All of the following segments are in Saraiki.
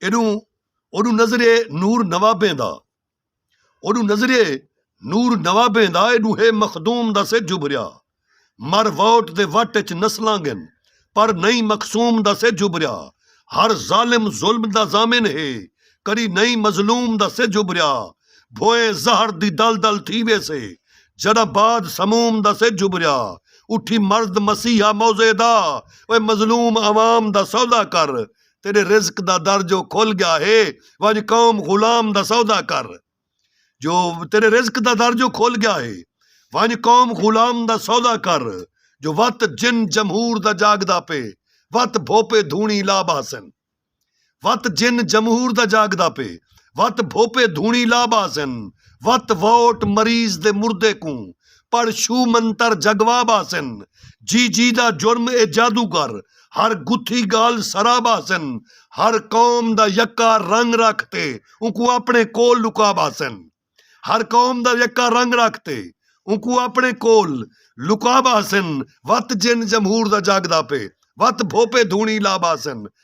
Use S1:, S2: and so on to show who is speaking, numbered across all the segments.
S1: ایڈوں اوڈوں نظریے نور نوابیں دا اوڈوں نظریے نور نوابیں دا ایڈوں ہے مخدوم دا سج ابھریا مر ووٹ دے وٹ اچ نسلاں گن پر نئی مقصوم دا سج ابھریا ہر ظالم ظلم دا ضامن ہے کری نئی مظلوم دا سج ابھریا بھوئے زہر دی دل دل تھی ویسے جڑا باد سموم دا سج ابھریا اٹھی مرد مسیحا موزے دا اوے مظلوم عوام دا سودا کر تیݙے رزق دا در جو کھل ڳیا ہے ونڄ قوم غلام دا سودا کر جو تیݙے رزق دا در جو کھل ڳیا ہے ونڄ قوم غلام دا سودا کر جو وت جن جمہور دا جاڳدا پئے وت بھوپے دھوݨی لا ٻہسن وت جن جمہور دا جاڳدا پئے وت بھوپے دھوݨی لا ٻہسن وت ووٹ مریض دے مردے کوں پڑھ شو منتر جگواب آسن جی جی دا جرم اے جادوگر ہر گتھی گالھ سراب آسن ہر قوم دا یکا رنگ رکھ تے اونکوں اپنڑے کول لکاب آسن ہر قوم دا یکا رنگ رکھ تے اونکوں اپنڑے کول لکاب آسن وت جن جمہور دا جاگدا پے وت بھوپے دھونڑی لاب آسن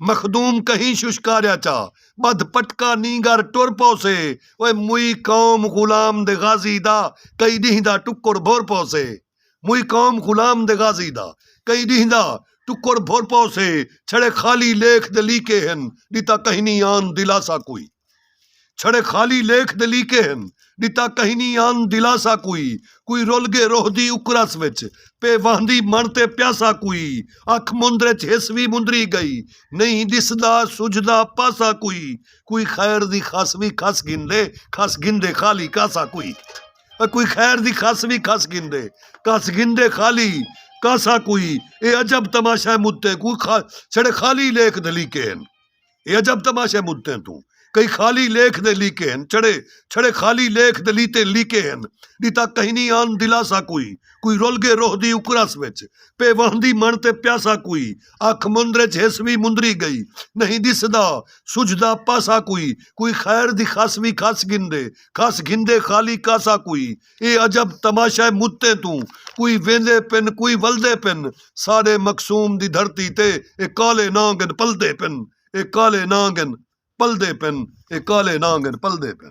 S1: مخدوم کہیں ششکاریا چا ٻدھ پٹکا نینگر ٹر پوسے او موئی قوم غلام دے غازی دا کئی ݙینہہ دا ٹکر بھر پوسے موئی قوم غلام دے غازی دا کئی ݙینہہ دا ٹکر بھر پوسے چھڑے خالی لیکھ دے لیکے ہن ݙتا کہیں نی آن دلاسہ کوئی چھڑے خالی لیکھ دے لیکے ہن ݙتا کہنی آن دلاسا کوئی کوئی رل گے روہ دی اکرس وچ پے واہندی مݨ تے پیاسا کوئی اکھ مندر ءچ ہس وی مندری گئی نئیں ݙسدا سجھدا پاسا کوئی کوئی خیر دی خس وی کھس گھندے کھس گھندے خالی کاسا کوئی کوئی خیر دی خس وی کھس گھندے کھس گھندے خالی کاسا کوئی اے عجب تماشہ مدتے کوئی خا چھڑے خالی لیکھ دے لیکے ہن۔ اے عجب تماشہ مدتیں توں کئی خالی لیکھ دے لیکے ہن چھڑے چھڑے خالی لیکھ دے لیتے لیکے ہن ݙتا کہنی آن دلاسا کوئی کوئی رل گے روہ دی اکرس وچ پے وہندی مݨ تے پیاسا کوئی اکھ مندر اچ ہس وی مندری گئی نہیں ݙسدا سجھدا پاسا کوئی کوئی خیر دی خس وی کھس گھندے کھس گھندے خالی کاسا کوئی اے عجب تماشہ متیں توں کوئی ویندے پن کوئی ولدے پن ساڈے مقصوم دی دھرتی تے اے کالے نانگ ہن پلدے پن اے کالے نانگ ہن پلدے پن اے کالے نانگ ہن پلدے پن۔